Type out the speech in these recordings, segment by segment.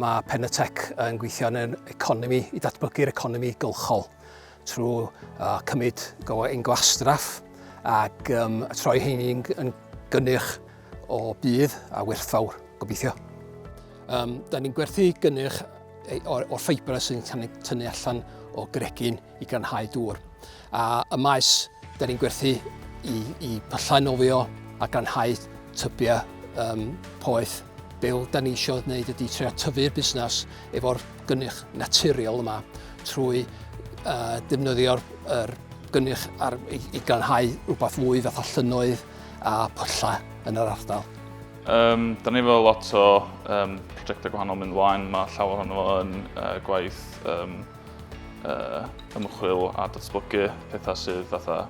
Mae Penatec yn gweithio yn yr economi, i datblygu'r economi gylchol trwy uh, cymryd ein gwastraff ac um, troi hyn yn gynnyrch o budd a werthfawr, gobeithio. Um, da ni'n gwerthu gynnyrch o'r, or ffibra sy'n cael ei tynnu allan o gregyn i granhau dŵr. A y maes, da ni'n gwerthu i, i pyllau nofio a granhau tybiau um, poeth. Be da ni eisiau gwneud ydy trio tyfu'r busnes efo'r gynnyrch naturiol yma trwy uh, defnyddio'r er gynnyrch ar, i, i granhau rhywbeth fwy fath o llynoedd a pwlla yn yr ardal. Um, da ni efo lot o um, prosiectau gwahanol mynd mlaen, mae llawer ohono fo yn uh, gwaith um, uh, ymchwil a datblygu pethau sydd fatha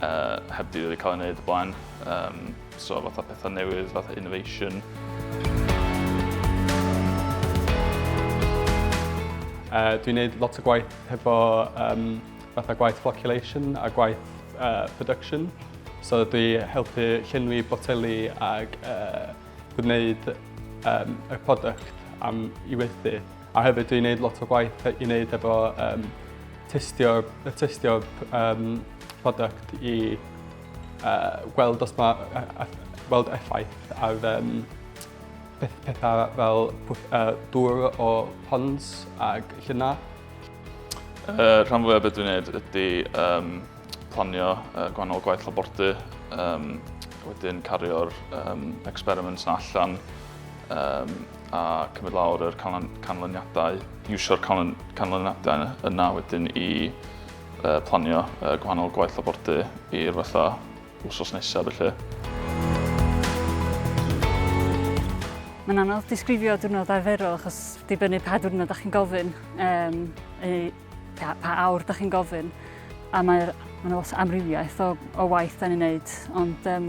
uh, heb di wedi cael ei wneud y blaen. Um, so fatha pethau newydd, fatha innovation. Uh, dwi'n gwneud lot o gwaith hefo um, fatha gwaith flocculation a gwaith uh, production. So dwi helpu llenwi boteli ag uh, gwneud um, y product am i weithu. A hefyd dwi'n gwneud lot o gwaith i wneud efo um, testio, testio um, product i uh, gweld os mae uh, weld effaith ar um, peth, pethau fel uh, dŵr o ponds ag llynau. Uh, rhan fwyaf beth dwi'n gwneud ydy um, planio uh, gwahanol gwaith labordy, um, wedyn cario'r um, experiments na allan um, a cymryd lawr yr canlyn, canlyniadau, iwsio'r canlyn, canlyniadau yna wedyn i uh, planio uh, gwahanol gwaith labordy i'r fatha wsos nesaf felly. Mae'n anodd disgrifio diwrnod arferol achos dibynnu pa diwrnod da chi'n gofyn, um, ei, pa, pa awr da chi'n gofyn, a mae'r Mae yna lot o amrywiaeth o, o waith da ni'n neud, ond um,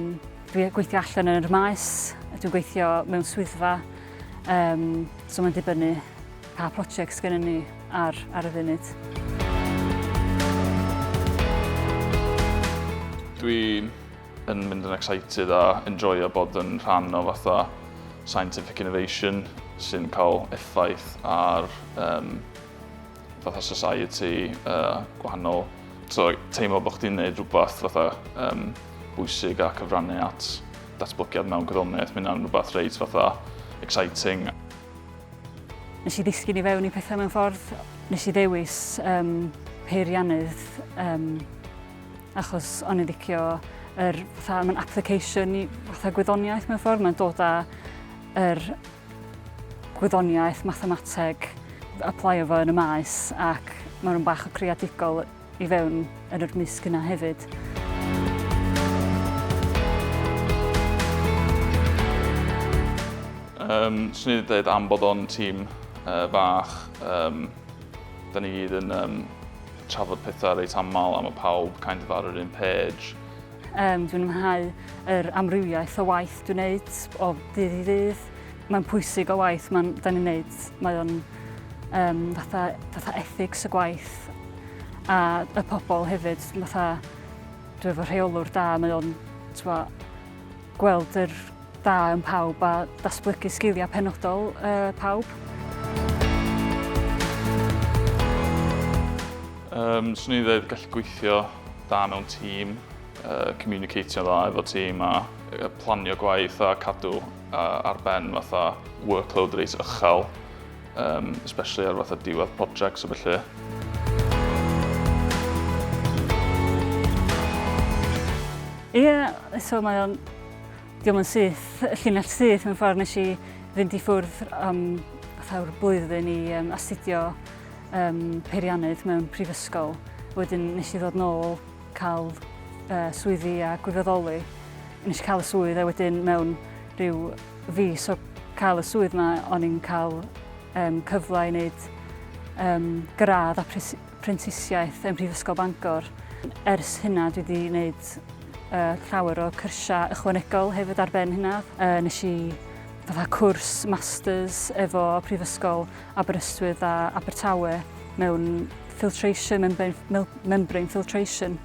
dwi'n gweithio allan yn yr maes, dwi'n gweithio mewn swyddfa, um, so mae'n dibynnu Pa project sgennyn ni ar ar y funud? Dwi yn mynd yn excited a enjoyo bod yn rhan o fatha scientific innovation sy'n cael effaith ar um, fatha society uh, gwahanol. So, teimlo bod chdi'n gwneud rhywbeth fatha um, bwysig a cyfrannu at datblygiad mewn gwyddoniaeth, mae hynna'n rhywbeth reit fatha exciting. Nes i ddisgyn i fewn i pethau mewn ffordd. Nes i ddewis um, peiriannydd um, achos o'n i'n ddicio yr, fatha, mae'n application i fatha gwyddoniaeth mewn ffordd. Mae'n dod â yr gwyddoniaeth, mathemateg, applio fo yn y maes ac mae'n rhywun bach o creadigol i fewn yn yr mysg yna hefyd. Um, Swn i wedi dweud am bod o'n tîm uh, fach, um, da ni gyd yn um, trafod pethau reit aml am y pawb, kind of ar yr un page. Um, dwi'n ymhau yr amrywiaeth o waith dwi'n neud o ddydd i ddydd. Mae'n pwysig o waith mae'n da ni'n neud. Mae o'n um, fatha, fatha ethics y gwaith a y pobl hefyd. Fatha, dwi'n efo rheolwr da, mae o'n gweld yr da yn pawb a datblygu sgiliau penodol uh, pawb. Um, swn i'n dweud gallu gweithio da mewn tîm, uh, communicatio dda efo tîm a planio gwaith a cadw A ar ben fatha workload reit ychel, um, especially ar fatha diwedd projects a felly. Ie, yeah, so mae o'n... Diolch yn syth, llinell syth mewn ffordd nes i fynd i ffwrdd am fatha'r blwyddyn i um, astudio um, peiriannydd mewn prifysgol. Wedyn nes i ddod nôl cael swyddi a gwirfoddoli, nes i cael y swydd a wedyn mewn rhyw fis o cael y swydd yma, o'n i'n cael um, cyfle i wneud um, gradd a prentisiaeth ym Mhrifysgol Bangor. Ers hynna dwi wedi gwneud uh, llawer o cyrsiau ychwanegol hefyd ar ben hynna. Uh, nes i fatha cwrs masters efo prifysgol Aberystwyth a Abertawe mewn filtration, membrane, membrane filtration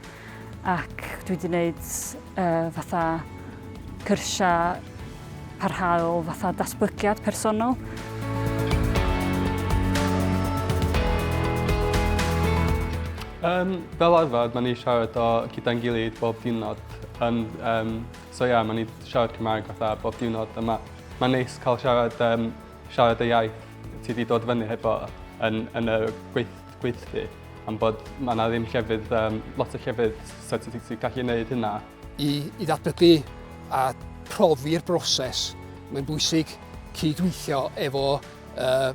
ac dwi wedi gwneud uh, fatha cyrsiau parhaol, fatha datblygiad personol. Um, fel arfer, maen ni siarad o gyda'n gilydd bob diwrnod. Um, um, so ie, yeah, maen ni siarad Cymraeg fatha bob diwrnod. Mae'n ma neis cael siarad um, siarad y iaith ti wedi dod fyny hefo yn, yn y gweith, gweithlu, am bod mae yna ddim llefydd, um, lot o llefydd so ti'n ti gallu gwneud hynna. I, I ddatblygu a profi'r broses, mae'n bwysig cydweithio efo uh,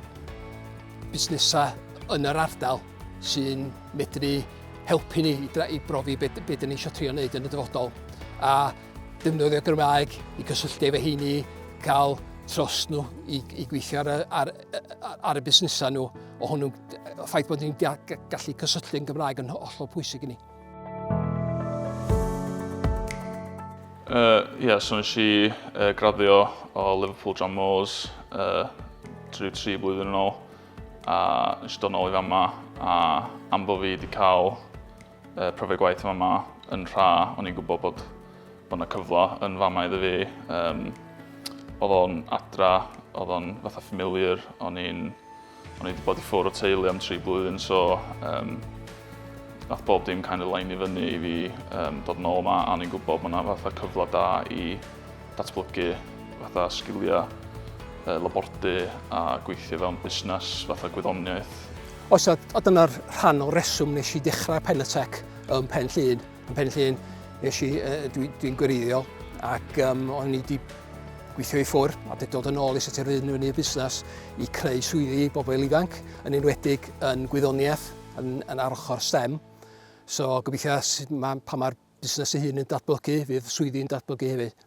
busnesau yn yr ardal sy'n medru helpu ni i, i brofi beth be dyn ni eisiau trio wneud yn y dyfodol. A Defnyddio Gymraeg i gysylltu efo heini, cael tros nhw i, i gweithio ar, ar, ar y busnesau nhw. O hwnnw, ffaith bod ni'n gallu cysylltu yn Gymraeg yn hollol pwysig i ni. Uh, yeah, so nes i uh, graddio o Liverpool John Moores uh, drwy tri blwyddyn yn ôl a nes i dod nôl i fama a am bod fi wedi cael Y profiad gwaith yma ma yn rha, o'n i'n gwybod bod bod yna cyfle yn fama iddo fi. Um, oedd o'n adra, oedd o'n fatha familiar, o'n i'n o'n i'n bod i ffwrdd o teulu am tri blwyddyn, so um, nath bob dim kind of line i fyny i fi um, dod nôl yma, a o'n i'n gwybod bod yna fatha cyfle da i datblygu fatha sgiliau uh, labordy a gweithio fewn busnes fatha gwyddoniaeth. Oes, a, a dyna'r rhan o reswm nes i dechrau Penatec ym Pen Llun. Ym Pen Llun, nes i, uh, dwi'n dwi, gwreiddiol, ac um, o'n i wedi gweithio i ffwr a wedi dod yn ôl i sut yr un yn y busnes i creu swyddi i bobl ifanc, yn enwedig yn gwyddoniaeth, yn, yn ar ochr STEM. So gobeithio mae, pa mae'r busnes ei hun yn datblygu, fydd swyddi'n datblygu hefyd.